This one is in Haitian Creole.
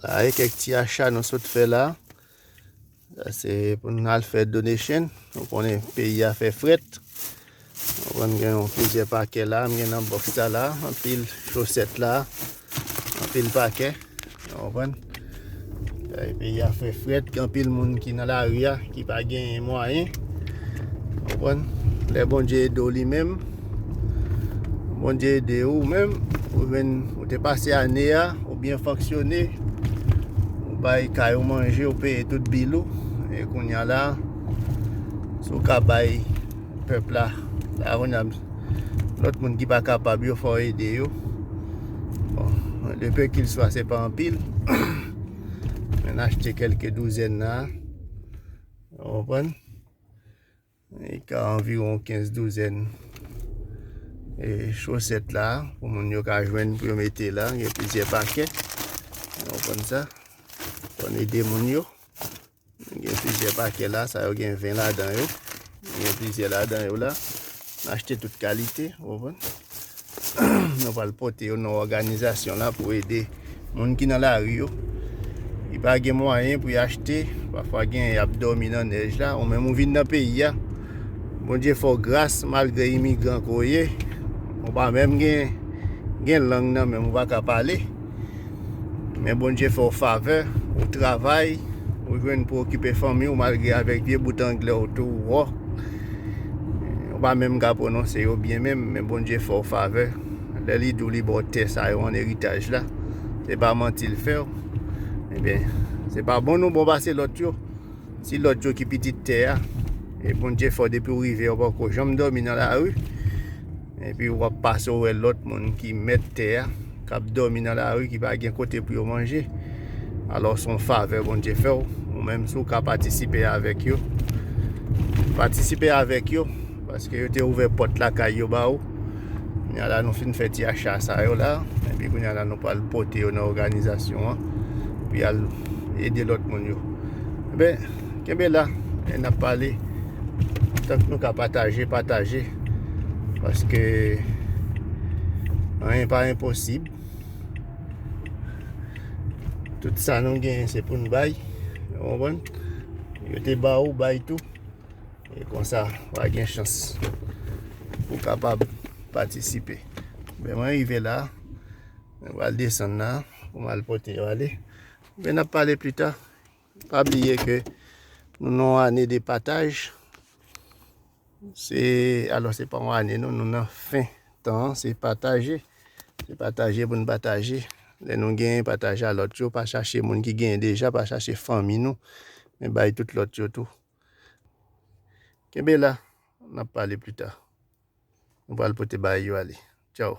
La e kèk ti achat nou sot fè la. La se pou nou al fè donation. Nou konnen peyi a fè fret. Nou konnen gen yon pizye pake la. Mwen gen nan box la la. Anpil choset la. Anpil pake. Ou konprann? Bagay peyi a fè frèt, gen anpil moun ki nan lari a, ki pa genyen mwayen. Ou konprann? Lè Bondye ede w li menm, Bondye ede ou menm, ou jwenn, ou te pase ane a, ou byen fonksyone, ou bay kay ou manje, ou peye tout bil ou, e kounya la, si w ka bay pèp la, la kounya, lòt moun ki pa kapab yo, fò w ede yo. Bon, de pe kil swa se pa anpil. Men achte kelke douzèn nan. Ou pren. E ka anviron 15 douzèn. E chosèt la. Pou moun yo ka jwenn pou yo mete la. Yon pizye pakè. Ou pren sa. Ou pren ide moun yo. Nou gen plizyè pakè la, sa yo gen 20 ladan yo. Nou gen plizyè ladan yo la. Nou achte tout kalite, ou konprann? Nou pral pote yo nan òganizasyon la pou ede moun ki nan lari yo. Ki pa gen mwayen pou y achte, pafwa gen y ap dòmi nan nèj la, ou menm ou vin nan peyi a. Bondye fè w gras malgre imigran ke w ye, ou pa menm gen lang nan menm, ou pa ka pale. Men Bondye fè w favè, ou travay, ou jwenn pou okipe fanmi ou malgre avèk vye bout anglè ou tou wò. Ou pa menm ka prononse yo byen menm, men Bondye fè w favè. Lè li dou li bò tè sa yo an eritaj la, se pa manti l fè w. Ebyen, se pa bon nou bon pase lòt yo. Ti lòt yo ki pitit tè a. E Bondye fò depi ou rive ou pa ko janm dòmi nan lari. Epi ou ap pase ou wè lòt moun ki mèt tè a, k ap dòmi nan lari, ki pa gen kote pou yo manje. Alò s on favè Bondye fè ou. Ou menm si ou ka patisipe avèk yo, patisipe avèk yo. Paske yo te ouvè pòt lakay yo ba ou. Kounye a la nou fin fè ti acha sa yo la. Epi kounye a la nou pral pote yo nan òganizasyon an. Pou y al. ede lòt moun yo Enben, kenbe la e n ap pale tank nou ka pataje, pataje paske anyen pa enposib tout sa nou gen se pou n bay ou konprann yo te ba ou, bay tou e konsa w a gen chans pou w kapab patisipe Enben, mwen rive la Mwen pral desann la pou m al pote yo ale. Men ap pale pli ta. Pa bliye ke nou nan ane de pataj. Se alò se pa ane nou nou nan fen tan se pataje. Se pataje pou nou pataje. Lè nou gen pataje a lòt yo pa chache moun ki gen deja pa chache fanmi nou. Men bay tout lòt yo tou. Kenbe la. Nap pale pli ta. Mwen pral pote bay yo ale. Tchao.